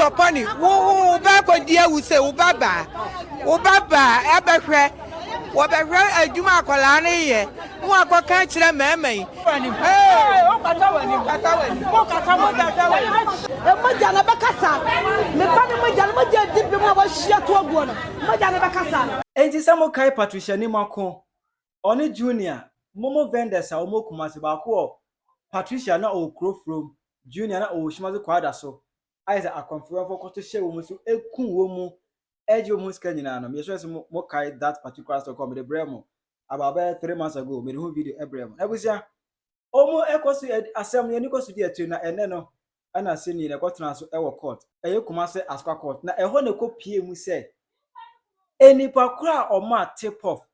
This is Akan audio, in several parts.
Papa ne wo wo ba akɔdi awu sɛ wo ba baa wo ba baa ɛbɛhwɛ wɔbɛhwɛ adwuma akwadaa no yɛ na wakɔka akyerɛ mmarima yi. mogya no bɛkasa me ba ne mogya no mogya adi bem a wahyia to aguo no mogya no bɛkasa. Enti sɛ mokae Patricia Nimako ɔne Junior, momo vendors a wɔwɔ Kumasi, baako wɔ Patricia na ɔwɔ kuro forom, Junior na ɔwɔ Shimazu Kwada so, ayɛ sɛ akɔmfoyɔfoɔ kɔto hyɛ wɔn so ku wɔn mu gye wɔn ho sika nyinaa no, meyɛ sure sɛ mo kae that particular story kɔ mede brɛɛ mo about bɛyɛ three months ago, mede ho video brɛɛ mo. N'abusua, wɔn ɛkɔ so, asɛm no yɛn ani kɔ so di akyire na ɛnɛ no ɛna Sini na ɛkɔ tena so wɔ court, ɛyɛ Kumasi Asukwa court, na ɛhɔ na ɛkɔ pie mu sɛ nnipa korɔ a wɔn a tip off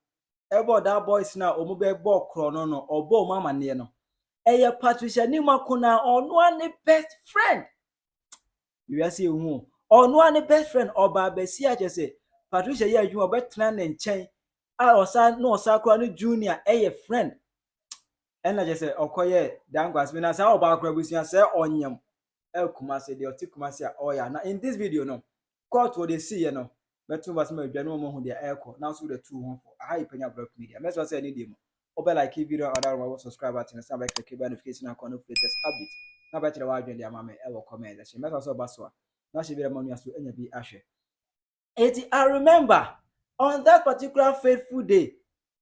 ɛbɔ that boys no a wɔn bɛbɔ korɔ no no ɔbɔ wɔn amaneɛ no ɛyɛ patricia nima ko na ɔno a ne best friend wiase ehu ɔno a ne best friend ɔba abɛsi akyɛ sɛ patricia yɛ adwuma ɔbɛtena ne nkyɛn a ɔsa na ɔsa koraa ne junior ɛyɛ friend ɛna kyɛ sɛ ɔkɔyɛ dankwasemi na saa ɔbaa koraa abusua sɛ ɔnyam ɛkuma se deɛ ɔte kuma se a ɔyɛ na in this video no Court wɔde siiɛ no mɛto nsa ma adwa ne wɔn ahu deɛ ɛrekɔ nanso wode atu wo ho fo aha yɛ Panya Brɔk Media mɛsrɛ sɛ ɛne deɛ mu wobɛ like video a ɔda no ma wɔ subscribe button ase na bɛ click bell notification icon no for latest update na bɛ kyerɛ w'adwene de ama me ɛwɔ comment section mɛsrɛ sɛ ɔba so a na hyɛ bi na ma nua so anya bi ahwɛ Eti I remember on that particular fateful day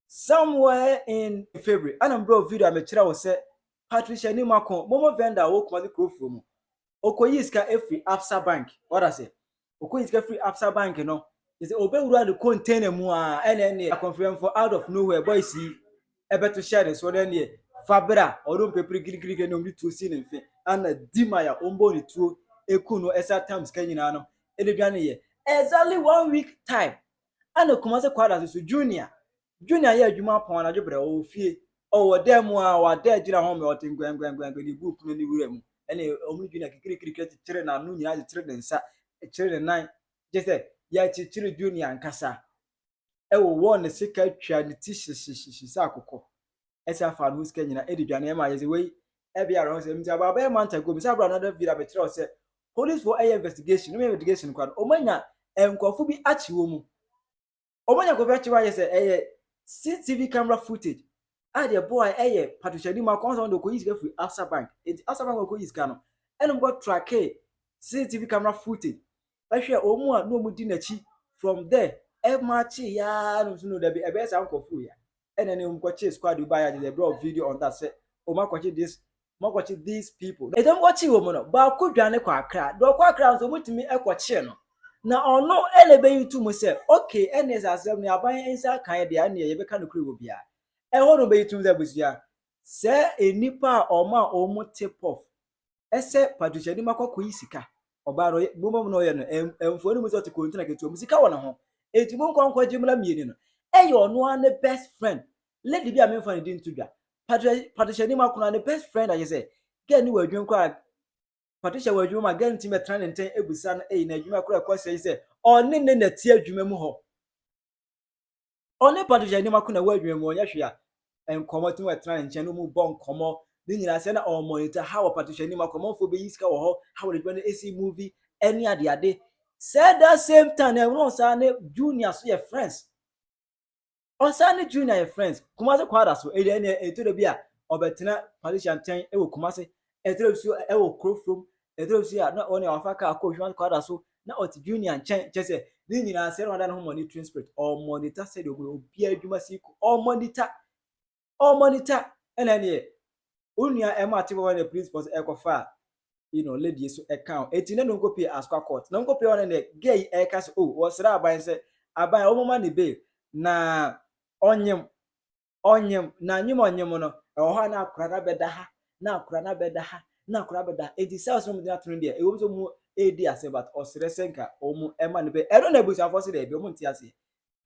somewhere in February ɛna mbrɛ wɔ video a mekyerɛ wo sɛ Patricia Nimako, Momo vendor a ɔwɔ Kumasi Kurofuo mu ɔkɔyii sika firi Absa bank wada sɛ ɔkɔyii sika firi Absa bank no te sɛ ɔbɛwura ne container mu a ɛna ɛneɛ akɔmfrɛmfoɔ out of nowhere boys yi ɛbɛto hyɛ ne so na ɛneɛ fa berɛ a ɔno mpepere girigirigiri na ɔmde tuo si ne mfe ana di ma ya ɔmbɔ ne tuo ɛku no ɛsa tam sika nyinaa no ɛde dwane yɛ exactly one week time ana kuma sɛ kwada so so junior Junior yɛ adwuma pɔn anadwo berɛ, ɔwɔ fie, ɔwɔ dan mu a, wada agyina hɔ ma ɔte nkɔɛnkɔɛnkɔɛnkɔɛ de bu pono no wura mu. Ɛnna wɔn ne Junior kikirikirikiri kyekyere n'ano nyinaa kyekyere ne nsa kyekyere ne nan gye sɛ yɛakyekyere Junior ankasa. Ɛwowɔ ne sika atwa ne ti hyehyehyehye sɛ akokɔ. Ɛsɛ afa ne ho sika nyinaa de dwane ɛma yɛ sɛ wei ɛbɛyɛ awerɛhosɛm nti about bɛyɛ month ago mesa bra another video a mekyerɛ wo sɛ policefoɔ ɛyɛ investigation wɔn investigation kora no wɔn anya nkurɔfo bi akye wɔn mu. Wɔn anya kɔfɛ akyerɛ ayɛ sɛ ɛyɛ CCTV camera footage a deɛ ɛboa ɛyɛ patohyɛni mu akɔn sɛ wɔn de ɔkɔyi sika firi Absa bank eti Absa bank ɔkɔyi sika no ɛna wɔn kɔ tracke CCTV camera footage ɛhwɛ wɔn mu a na wɔn di n'akyi from there ɛmaakye yaa no nso no dabi ɛbɛyɛ saa nkɔfo ya ɛna ne wɔn kɔ kye squad bi ba yɛ agye sɛ ɛbrɛ video on that sɛ wɔn akɔkye this moakɔkye these people. Ɛdɔm no wɔkyee wɔn no, baako dwane kɔ Accra, deɛ ɔkɔ Accra nso wɔtumi kɔkyee no, na ɔno na ɛbɛyi to mu sɛ, okay, ɛnneɛ sɛ asɛm no aban nsa akaeɛ deɛ a, ɛnneɛ yɛbɛka nokorɛ wɔ biara. Ɛhɔ na wɔbɛyi to mu sɛ abusua, sɛɛ nnipa a wɔmaa wɔn tip off sɛ Patricia Nima kɔ kɔyi sika, ɔbaa no ɔyɛ, boma mu na ɔyɛ no, ɛm, mfoni mu sɛ ɔte container ketewa mu, sika wɔ ne ho, enti monkɔ nkɔgye mmra mmieni no. Ɛyɛ ɔno ara ne best friend, lady bi a memfa ne din to dwa patricia anim akona ne best friend akyɛ sɛ girl ne wɔ adwuma kora patricia wɔ adwuma ma girl no tumi bɛtena ne nkyɛn abisa no ɛyi na adwuma kora ɛkɔ sɛ sɛ ɔne ne na ti adwuma mu hɔ ɔne patricia anim akona wɔ adwuma mu ɔnyɛ hwee a nkɔmmɔ tumi bɛtena ne nkyɛn no mu bɔ nkɔmmɔ ne nyinaa sɛ na ɔmɔnita ha wɔ patricia anim akɔ ɔmanfoɔ bɛyi sika wɔ hɔ ha wɔ adwuma no ɛsi movie ɛne adeade sɛ that same time na ɛwɔ saa ne junior so yɛ friends Ɔsan ne Junior and Friends, Kumasi Kwaada so, ɛdeɛ ɛnneɛ ɛtɔ da bi a ɔbɛtena Patricia nkyɛn wɔ Kumasi, ɛtɔ da bi so ɛwɔ kuro from, ɛtɔ da bi so a na ɔne wafa kaa kɔɔ Kumasi Kwaada so na ɔte Junior nkyɛn, kyɛ sɛ ne nyinaa sɛ na wada ne ho monitoring spirit, ɔmonita sɛdeɛ ɔmo yɛ obiara adwuma siko, ɔmonita. ɔɔ monitor ɛna ɛneɛ wo nua ɛmo ate bɔbɔ ne police force ɛkɔ fa you know lady yi so ɛka ho eti ne no nko pie asqua court no nko pie hɔ no neɛ girl yi ɛka se oh wɔ srɛ aban sɛ aban ɔmo ma ne bail na ɔnyem ɔnyem na nyem ɔnyem no ɛwɔ hɔ a na akora na bɛda ha na akora na bɛda ha na akora bɛda ha eti cells no mo de ato no deɛ ɛwɔ mu sɛ mo ɛɛdi ase but ɔsrɛ sɛ nka ɔmo ɛma ne bail ɛno na abusuafoɔ se dɛbi ɔmo nte aseɛ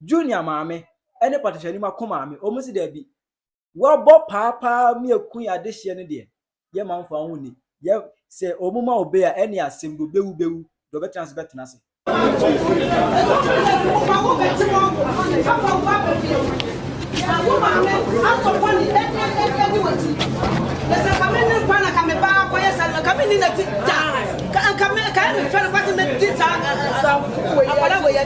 Junior maame ne Patricia Nima ko maame, wɔn se daabi, wɔabɔ paa paa Miako yi adehyeɛ no deɛ, yɛ ma mfa wo ho nni. Yɛ, sɛ wɔn ma wo be a, ɛne asɛm deɛ ɔbɛwu bɛwu, deɛ ɔbɛtena ase bɛtena ase.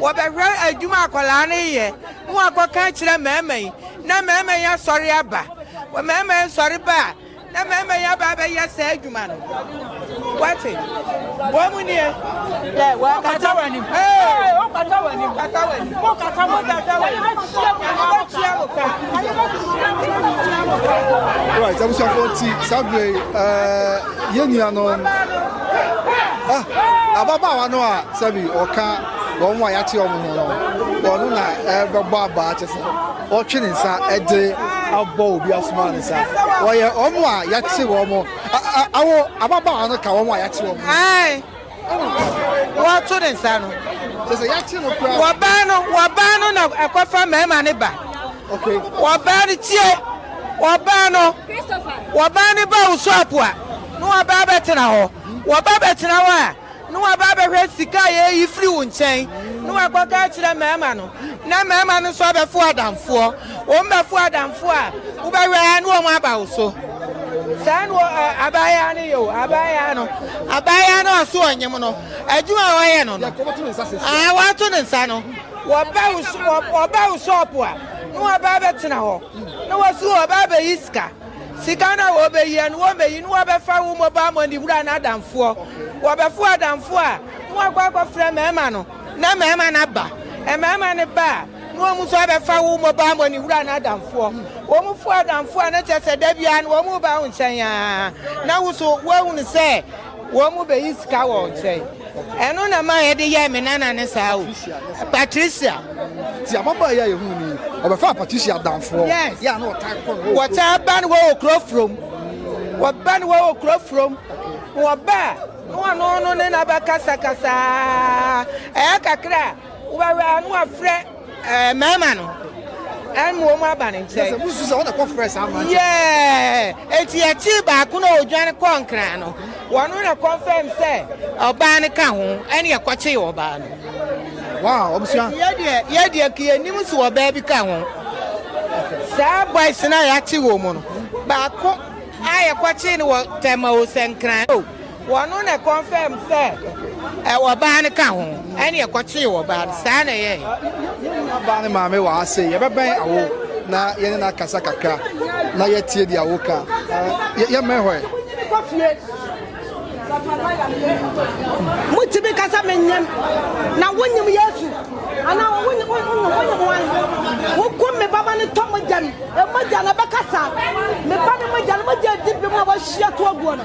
Wɔbɛhwɛ adwuma a akwadaa no reyɛ na wɔakɔka akyerɛ mmarima yi na mmarima yi asɔre aba. Mmarima yi sɔre ba a, na mmarima yi aba abɛyɛ saa adwuma no. Wate? Bɔ mu nie. Dɛ wɔakata wɔn anim. Ee, wɔkata wɔn anim. Kata wɔn anim. Wɔkata wɔn anim. Wɔkata wɔn anim. Wɔbɛtua mo ka. Wɔbɛtua mo ka. Right, abusuafo ti saa bere yi, eh, yɛn nuanom, ah, ababaawa no a Sɛbi ɔka wɔn a yɛate wɔn ho no, ɔno na ɛbɛbɔ abaa te sɛ ɔtwe ne nsa de abɔ obi asoma ne nsa. Wɔyɛ wɔn a yɛate wɔn awo ababaawa no ka wɔn a yɛate wɔn ho. Wɔto ne nsa no. Sɛ sɛ yɛate no koraa. Wɔbaa no wɔbaa no na ɛkɔfa mmarima ne ba. Wɔbaa no tie wɔbaa no wɔbaa ne ba wo so apoa na wɔbaa bɛtena hɔ wɔba bɛtena hɔ a. na waba abɛhwɛ sika a yɛayi firi wo nkyɛn, na wakɔka akyerɛ mmarima no, na mmarima no nso abɛfo adamfoɔ. Wɔbɛfo adamfoɔ a, wobɛhwɛ ara na wɔaba wo so. Saa na abaayaa no yɛ o, abaayaa no, abaayaa no ɔso ɔnyem no, adwuma a wɔyɛ no no, aa wɔato ne nsa no, wɔba wo shop a, na wɔaba abɛtena hɔ, na wɔsi wɔba abɛyi sika. Sika no a wɔbɛyia no, wɔbɛyi no, wɔbɛfa wo mobile money wura no adamfoɔ. Wɔbɛfo adamfoɔ a, na wɔakɔ akɔfrɛ mmarima no, na mmarima no aba. Mmarima no ba a, na wɔn nso abɛfa wo mobile money wura no adamfoɔ. Wɔn fo adamfoɔ a, na kyerɛ sɛ da biara no wɔn reba wo nkyɛn ara, na wo nso woahunu sɛ. Wɔbeyi sika wɔ wo nkyɛn. Ɛno na ɛmaa yɛde yɛɛ me nana no saa o. Patricia. Nti ababaa yi a yɛhuu no yi, ɔbɛfaa Patricia adamfoɔ. Yes. Yɛ a na ɔtaa kɔ ne hɔ wɔ kurom. Wɔtaa ba ne hɔ wɔ kuro from. Wɔba ne hɔ wɔ kuro from. Wɔba a, na ɔno no ne no abɛkasakasa ara. Ɛyɛ kakra a, Wobɛwɛ a na wafrɛ ɛɛ mmarima no ɛna wɔn aba ne nkyɛn. Sɛ musu sɛ wɔn na kɔ frɛ saa mmerante. Yɛɛ eti akyi baako na odwan kɔ nkran no wɔn na kɔnfɛm sɛ ɔbaa no ka ho ɛna ɛkɔkye ɔbaa no. Wow, ɔbusua. Yɛ deɛ yɛ deɛ kiyɛ nim so ɔbaa bi ka ho. Saa boys na yɛakye wɔn mu no baako a yɛkɔkye no wɔ tɛma o sɛ nkran o. Wɔno na confirm sɛ ɛwɔ baa no ka ho ɛne ɛkɔkyee wɔ baa no saa na ɛyɛɛ. Yɛn nua baa no maame wɔ ha sei yɛbɛbɛn awo na yɛne no akasa kakra na yɛtie deɛ awo ka yɛmmɛn hɔ ɛ. Motumi kasa menyem na wonyem Yesu ana wonyem wonyem wan wokum me baba ne tɔ mogya mu emogya na bɛkasa me ba ne mogya no mogya di bi mu a wahyia to aguo no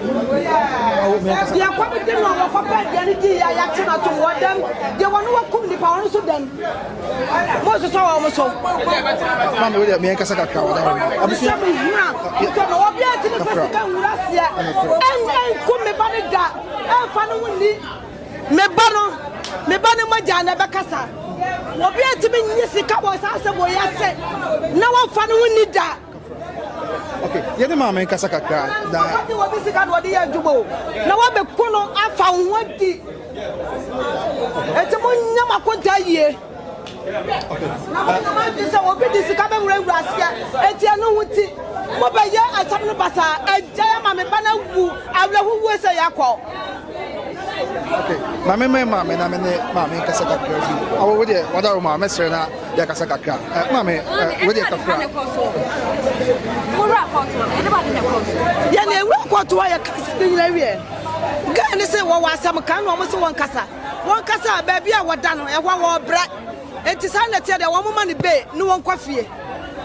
Deɛ kɔ no de no a wɔkɔ pɛ deɛ no di yɛ yɛakye no atom wɔ dɛm deɛ wɔne wɔkum nipa wɔn nso dɛm mososɔ wɔn so maame wo deɛ meɛnkasa kakra wɔda hɔ no abusua mehia nso ma wɔbi atumi pɛ sika nwura seɛ ɛnku me ba no da ɛmfa no ho ni me ba no me ba no mogya na ɛbɛkasa wɔbi atumi nye sika wɔ saa asɛm wɔ yɛ ase na wɔmfa no ho ni da Okay, yɛ ne maame nkasa kakra na. Wadi wɔ bi sika na wɔde yɛ adwuma o. Na wɔbɛko no afa wo ho adi. Eti mo nyɛ mo akonta yie. Na mo nyɛ mo adi sɛ obi di sika bɛ wura wura aseɛ. Eti ɛno ho ti. Mo bɛ yɛ asɛm no basaa. Ɛgya yɛ maame ba na wu. Awurahu wuo sɛ yɛ akɔ. Okay, maame mɛ maame na mɛ ne maame nkasa kakra bi. Awo wo deɛ wada wo ma mɛ srɛ na. Yɛ kasa kakra. Ɛ ma me ɛ wei deɛ kakra. Wura kɔtoɔ ɛde ba de na kɔtoɔ. Yɛ na ewura kɔtoɔ yɛ kasa ne nyina wiɛ. Gaa ne se wɔwɔ asɛm kan na wɔn se wɔn kasa. Wɔn kasa a baabi a wɔda no ɛhɔ wɔbrɛ. Enti saa na ɛteɛ deɛ wɔn ma no bay ne wɔn kɔ fie.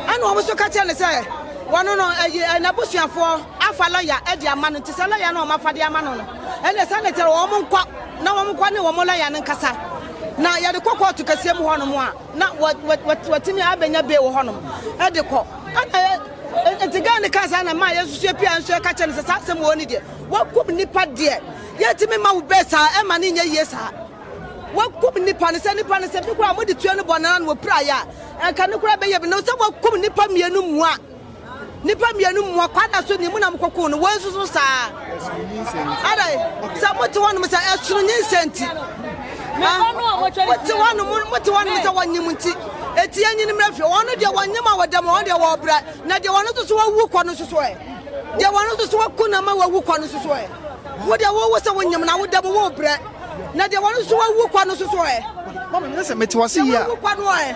Ɛna wɔn nso ka kyerɛ no sɛ wɔn no ɛyi ɛ n'abusuafoɔ afa lɔya ɛde ama no nti sɛ lɔya no wɔn afa de ama no no ɛna saa na ɛteɛ wɔn nkɔ na wɔn nkɔ ne wɔn lɔya no nkasa. Na yɛde kɔ kɔɔto kɛseɛ mu hɔnom a, na wɔatumi abɛnya bee wɔ hɔnom de kɔ. Ɛna nti gaa no kaa saa na maa yɛnso so yɛpia nso yɛka kyerɛ no sɛ saa asɛm wɔ ni deɛ wakum nnipa deɛ yɛntumi ma wo bee saa ɛma no nyɛ yie saa wakum nnipa no sɛ nnipa no sɛ bi koraa mode tua no bɔ no na wɔpira yɛ a ɛnka no koraa bɛyɛ bi no sɛ wakum nnipa mmienu mua Nnipa mmienu mmoa kwadaa so ne mu na mokɔkoo no, wei nso so saa. Ɛsono nyinsɛn nti. Adai, sɛ mote hɔnom sɛ ɛsono nyinsɛn nti. Ah, mote hɔnom, mote hɔnom sɛ wɔnyem nti. Eti enyin mmerɛ fi, wɔn deɛ wɔnyem a wɔda mu, wɔn deɛ wɔbrɛ, na deɛ wɔn nso so wawu kɔ no nso so ɛ. Deɛ wɔn nso so waku na ma wawu kɔ no nso so ɛ. Wo deɛ wowo sɛ wonyem na woda mu wobrɛ, na deɛ wɔn nso so wawu kɔ no nso so ɛ. Mama, nyɛ sɛ mete wase yie a.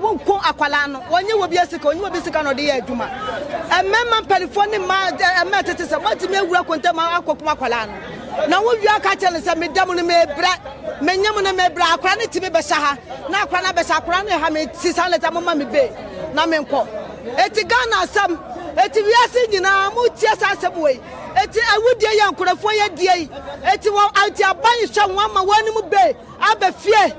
Wo nko akwadaa no, wɔnyɛ wɔ bia sika, ɔnyɛ wɔ bi sika na ɔde yɛ adwuma. Mmarima mpanimfoɔ ne mmaa eh, mmaa tete sɛ moatumi awura kontam akɔkum akwadaa no. Na wowie aka kyerɛ no sɛ meda mu no mebrɛ, menyɛ mu no mebrɛ, akwadaa no tumi bɛhyɛ ha, na akwadaa no abɛhyɛ akwadaa no ha, mesi saa lɛta moma me be na menkɔ. Eti Ghana asɛm, eti wiase nyinaa motie saa asɛm wei, eti awudie yɛ nkurɔfoɔ yɛ die yi, eti wɔ eti aban hyɛ wɔn ama wɔn anim be Aba fie,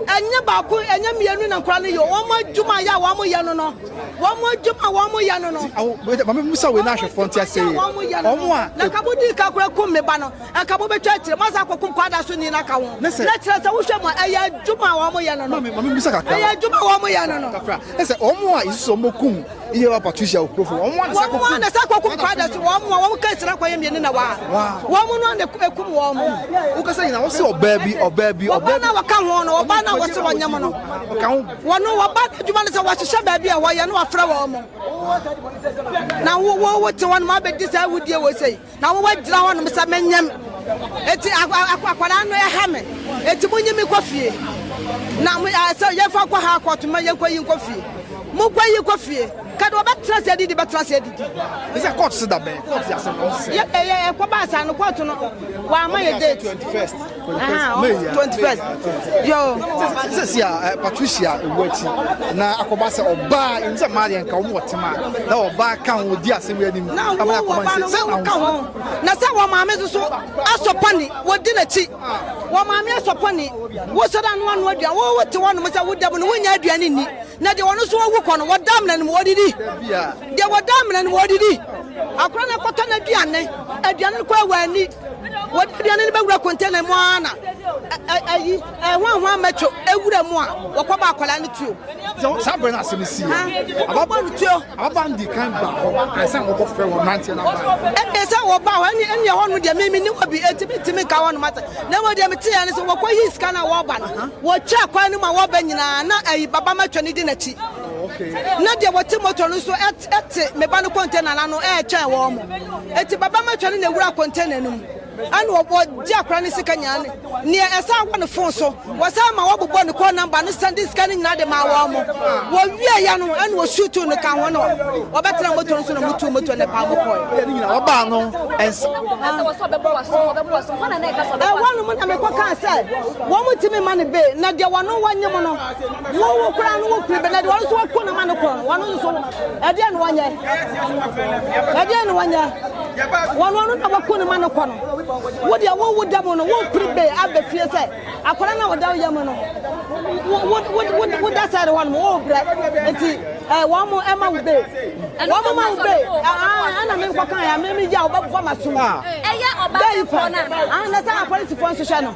ɛnyɛ baako, ɛnyɛ mmienu na nkwadaa no yɛ o, wɔn adwuma yɛ a wɔn yɛ no no, wɔn adwuma wɔn yɛ no no. Ti awo wei maame mu sa wei na ahwɛfoɔ nti ase yɛ wɔn a. Na kabo di ka kura kum mi ba no, ɛkabo bɛtwa akyire, masa akɔ kum kwadaa so ni na ka ho. Na kyerɛ sɛ wohwɛ mu a ɛyɛ adwuma wɔn yɛ no no. Maame maame mu sa kakra. Ɛyɛ adwuma wɔn yɛ no no. Kakra, ɛsɛ wɔn a yesusu wɔn kum Iye wa Patricia Okurofo, wɔn mu ansa kokum. Wɔn mu ansa kokum kwada so, wɔn mu a wɔn kɛse na kɔyɛ mmienu na wa. Wɔn mu no ana ekum wɔn mu. Wokasa nyina wɔsi ɔbaa bi, ɔbaa bi, ɔbaa bi. Ɔbaa na wɔka ho no, ɔbaa na wɔsi wɔn nyɛm no. Ɔka ho. Wɔn wɔba adwuma no sɛ wɔhyehyɛ baabi a wɔyɛ na wɔfrɛ wɔn mo. Na wo wo wo te wɔn ma abɛdi saa awudie wɔ sɛ. Na wo wagyina hɔ nom sɛ me nyem eti akwadaa no ɛha me eti mo nyi me kɔ fie na mo eh, sɛ yɛn fa kɔ ha kɔɔto ma yɛn kɔ yi nkɔ fie mo kɔ yi kɔ fie kadi ɔbɛ tena se didi bɛ tena se didi. Ɛsɛ kɔɔto se da bɛn kɔɔto yɛ asɛm na ɔsɛ. Yɛ ɛyɛ ɛkɔ baasa no kɔɔto no wama yɛ date. sɛsi a eh, patricia ɛwu akyi na akɔba sɛ ɔbaa ɛni sɛ maa deɛ nka wɔn wɔtema na ɔbaa ka ho di asɛm yɛ anim abɛn akɔba nse sɛ na ho na sɛ wɔn maame soso asɔpɔni wɔdi n'akyi wɔn maame asɔpɔni wosɔrɔ ano ano aduan wɔwɔ te wɔn nom sɛ woda mu no wonya aduan ni na deɛ wɔn nso wɔwu kɔ no wɔda amena no mu wɔdidi deɛ wɔda amena no mu wɔdidi akora no akɔtɔ no aduane aduane no kɔ awɔ ani Wɔde aduane no bɛwura container mu ara na ayi ɛhwanhwan mɛtwo ewura mu a wɔkɔbɔ akwadaa no tuo. Saa bere no asɛm no sii no, ababaa no tuo. Ababaa no di kan baa hɔ ansa na wɔkɔfrɛ wɔn mmeranteɛ no abaa. Ɛnna sɛ wɔbaa hɔ ɛne ɛne ɛhɔ no deɛ mimi ne hɔ bi enti mentumi nka hɔ nom asɛ na mmom deɛ meteɛ ne sɛ wɔkɔyii sika no a wɔreba no wɔtwaa kwan no mu a wɔreba nyinaa na ayi baba matwa no di n'akyi na deɛ wɔte moto no nso te me ba no container no ano ɛretwɛn wɔn mo enti baba ma twɛne na ewura container no mu ɛna ɔbɔ gye akora ne sika nyinaa ne neɛ ɛsan wɔ ne phone so wɔsan ma wɔbobɔ ne call number no sɛnde sika no nyinaa de maa wɔn mo wɔ wie ya no ɛna ɔsu tuu no ka ho no wɔbɛtena moto no so na motu moto ne paa mo kɔɛ ɔbaa no ɛnsa ɛwɔ no mo na mekɔ kaa sɛ wɔn mo tumi ma no be na deɛ wɔn wɔnyɛ mo no Wo wo kura no wo kuru bɛ na de wɔn nso wɔkɔ no ma no kɔn wɔn nso ɛdeɛ na wɔnyɛ ɛdeɛ na wɔnyɛ wɔn wɔn na wɔkɔ no ma no kɔ no wo deɛ wo wo dɛm no wo kuru bɛ abɛ fie sɛ akɔla na wɔda yɛ mu no wo wo wo wo da sɛ de wɔn mo wo brɛ eti ɛɛ wɔn mo ɛma wo bɛ wɔn mo ma wo bɛ ɛɛ ɛna mi nkɔ kan ya mi mi gya wo bɛ bɔ ma sum bɛyi pɔ na sɛ apolisifoɔ nso hwɛ no.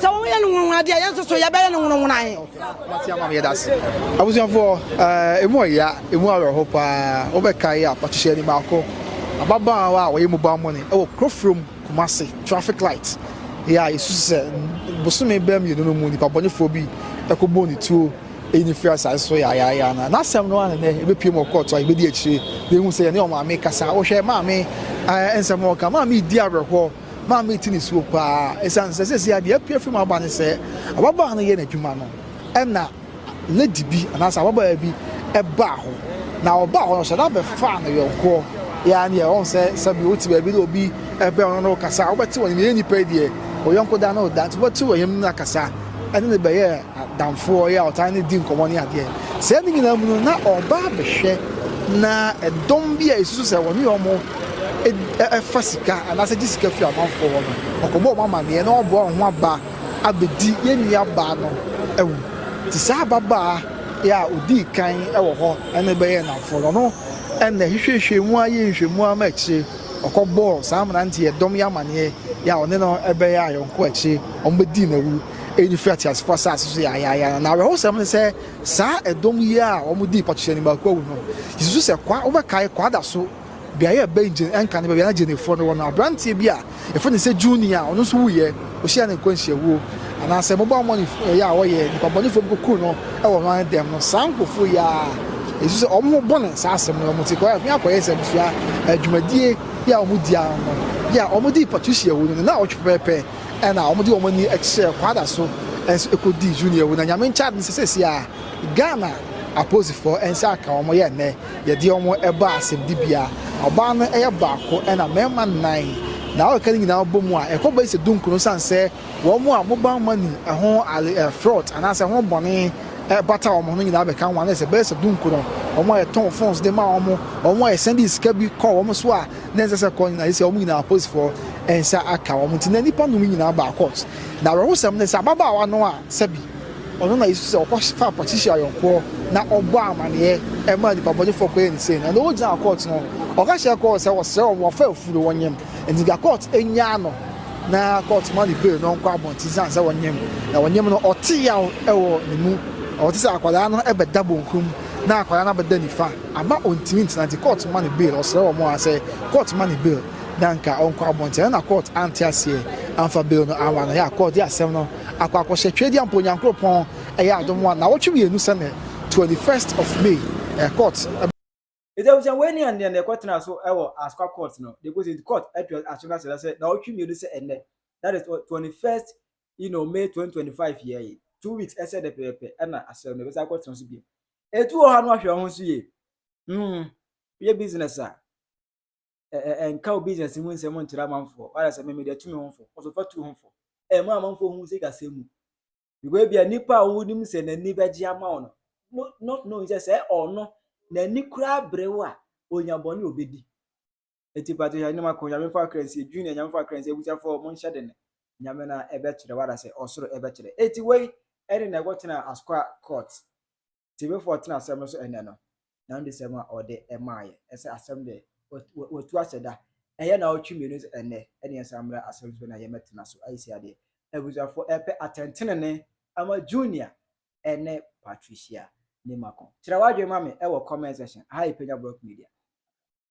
Sɛ wɔyɛ no nwonwa deɛ yɛn nso so yɛbɛyɛ no nwonwa he. Mate ama meyɛ dase. Abusuafoɔ, eh, emu ɔya, emu awerɛho paa. Wobɛkae a, ɔkyehyɛ ni baako, ababaawa a ɔyɛ mobile money wɔ Kurofrom, Kumasi, traffic light, yɛ a yɛsusu sɛ bosome bɛɛ mmienu no mu nipa bɔnefoɔ bi ɛkɔbɔɔ ne tuo ɛyi ne firi asaase so yaayaaya na n'asɛm no a nenɛ ɛbɛpie mu ɔkɔɔto a yɛbɛdi akyire yɛhu sɛ yɛne ɔmaame kasa wohwɛ maame nsɛm ɔka maame di awerɛhoɔ maa mete nisuo paa ɛsiane sɛ seesei adeɛ apue afiri mu aba ne sɛ ababaa no yɛ n'adwuma no ɛna lady bi anaasɛ ababaa bi ɛbaa hɔ na ɔbaa hɔ no ɔhyɛ da bɛfaa no yɔnkoɔ yɛa ne ɛwɔ sɛ sɛbi wote baabi na obi ɛbɛn ɔno no kasa wobɛte wɔn yɛ nipa deɛ ɔyɔnko da no da nti wobɛte wɔn yam no akasa ɛne ne bɛyɛ adamfoɔ yɛ a ɔtaa ne di nkɔmmɔ ne adeɛ. Sɛ ne nyinaa mu no, na ɔba abɛhwɛ na ɛdɔm bi a ɛsusu sɛ wɔne wɔn ɛfa sika anaasɛ gye sika firi amanfoɔ hɔ no, ɔkɔbɔ wɔn amanneɛ na ɔboa wɔn ho aba abɛdi yɛn nuabaa no awu. Nti saa ababaa yɛ a ɔdii kan wɔ hɔ ne bɛyɛɛ nnamfoɔ no, ɔno na ɛhwehwɛhwɛɛ mu ara yɛɛ nhwɛmu ara ma akyire ɔkɔbɔɔ saa mmeranteɛ dɔm yi amanneɛ yɛ a ɔne no bɛyɛ ayɔnko akyire wɔbɛdii no awu. eyi no firi ateasefo asase so yaayaaya no. Na awerɛhosɛm ne sɛ, saa ɛdɔm yi a wɔdii Patricia no baako awu no, yesusu sɛ kwa, wobɛkae kwa da so beae a ɛbɛn Jane Enka ne baabi a na Janefoɔ no wɔ no. Aberanteɛ bi a yɛfrɛ no sɛ Junie a ɔno nso wuiɛ, ɔhyiaa ne nkwanhyiawuo, anaasɛ mmobɔammɔ ne yɛ a wɔyɛ, nnipabɔnefoɔ bi kɔkuu no wɔ Hwan Dɛm no. Saa nkurɔfoɔ yi ara a yesusu sɛ wɔn ho bɔne saa asɛm no wɔn ti kɔ afi akɔyɛ nsɛmfua dwumadie yi a wɔdii ano no, yɛ a wɔdii Patricia awu no ne nnawɔtwe pɛpɛɛpɛ. Ɛna wɔn de wɔn ani kyerɛɛ Kwada so nso ɛkɔdii Junior wu na Nyame nkyade nso sɛsi a Ghana apolisifoɔ nsa aka wɔn yɛ nnɛ yɛde wɔn ɛba asɛmdibea. Ɔbaa no yɛ baako ɛna mmarima nnan na wokeka ne nyinaa bɔ mu a ɛkɔ bɛsi sɛ dunkron ɛsiane sɛ wɔn a mobile money ɛho fraud anaasɛ ho bɔne ɛbata wɔn ho no nyinaa bɛka ho a na ɛsɛ bɛyɛ sɛ dunkron wɔn a yɛtɔn phones de ma wɔn wɔn a yɛsɛnde sika bi kɔ wɔn so a na ɛnsɛ sɛ kɔ nyinaa sɛ wɔn nyinaa apolisifoɔ nsa aka wɔn nti na nnipa nnum nyinaa baa court na awerɛhosɛm ne sɛ ababaawa no a sɛbi ɔno na yesu sɛ ɔkɔ fa patricia ayɔnkoɔ na ɔbɔ amaneɛ ɛma nnipa bɔnefoɔ kɔyɛ ne sɛ na ɛna ɔgyina court no ɔka kyerɛ court sɛ wɔsrɛ wɔn wɔfa afuro wɔnyem nti da court nyaa no na court ma ne bail no nkɔ abɔnten sane sɛ wɔnyem na wɔnyem no ɔte yaw ɛwɔ ne mu ɔte sɛ akwadaa no ɛbɛda bonkum na akwadaa no abɛda nifa Ama ontumi ntena nti kɔɔt ma no bail, ɔsrɛ wɔn ara sɛ kɔɔt ma no bail na anka ɔnkɔ abɔnten ɛno na kɔɔt ante aseɛ amfa bail no amma no, ɛyɛ a kɔɔt de asɛm no akɔ akɔhyɛ Tweadiampɔ Nyankoropɔn ɛyɛ adom one nawɔtwe mmienu sɛ nnɛ twenty first of May ɛɛ kɔɔt Enti abusua wei ne ɛnneɛ na ɛkɔtenaa so wɔ Ascwa Court no de kɔsi nti kɔɔt atu aso no asɛda sɛ nawɔtwe mmienu sɛ ɛnnɛ that is twenty first you know May twenty twenty five yɛɛ yi two weeks ɛsɛ nnɛ pɛpɛpɛ ɛna asɛm no ɛbɛsan akɔtena so bio Etu wɔ hɔ a na wahwɛ ɔho so yie. Mm, yɛ business a, ɛnka wo business mu nsɛm nkyerɛ amanfoɔ. Wayɛ sɛ meme deɛ tu me ho fo, ɔso fa tu ho fo. Ɛma amanfoɔ hu sɛ gasɛ mu. Because ebia nipa a wonim sɛ n'ani bɛgye ama wo no, no, no, no, sɛ sɛ ɔno, n'ani koraa bere wo a, onya bɔne obedi. Enti pato hyɛ anom ako, Nyame mfa kra nsie, Junior Nyame mfa kra nsie, Abusuafoɔ mo nhyɛ dene, Nyame na ɛbɛ kyerɛ, wada sɛ ɔsoro ɛbɛ kyerɛ. Enti wei ɛne na ɛkɔ tena Askwa court, Tebefoɔ tena asɛm no so ɛnɛ no, na no de sɛm a ɔde ɛmaa yɛ, ɛsɛ asɛm deɛ watu ahyɛ da, ɛyɛ na ɔtwe mmienu sɛ ɛnɛ, ɛne yɛn san mmra asɛm so na yɛn bɛ tena so, ayi sɛ adeɛ. Abusuafoɔ ɛpɛ atɛntenene ama Junior ɛne Patricia Nimako. Kyerɛ wadwene ma me ɛwɔ comment section, aha yɛ Penya Brock Media.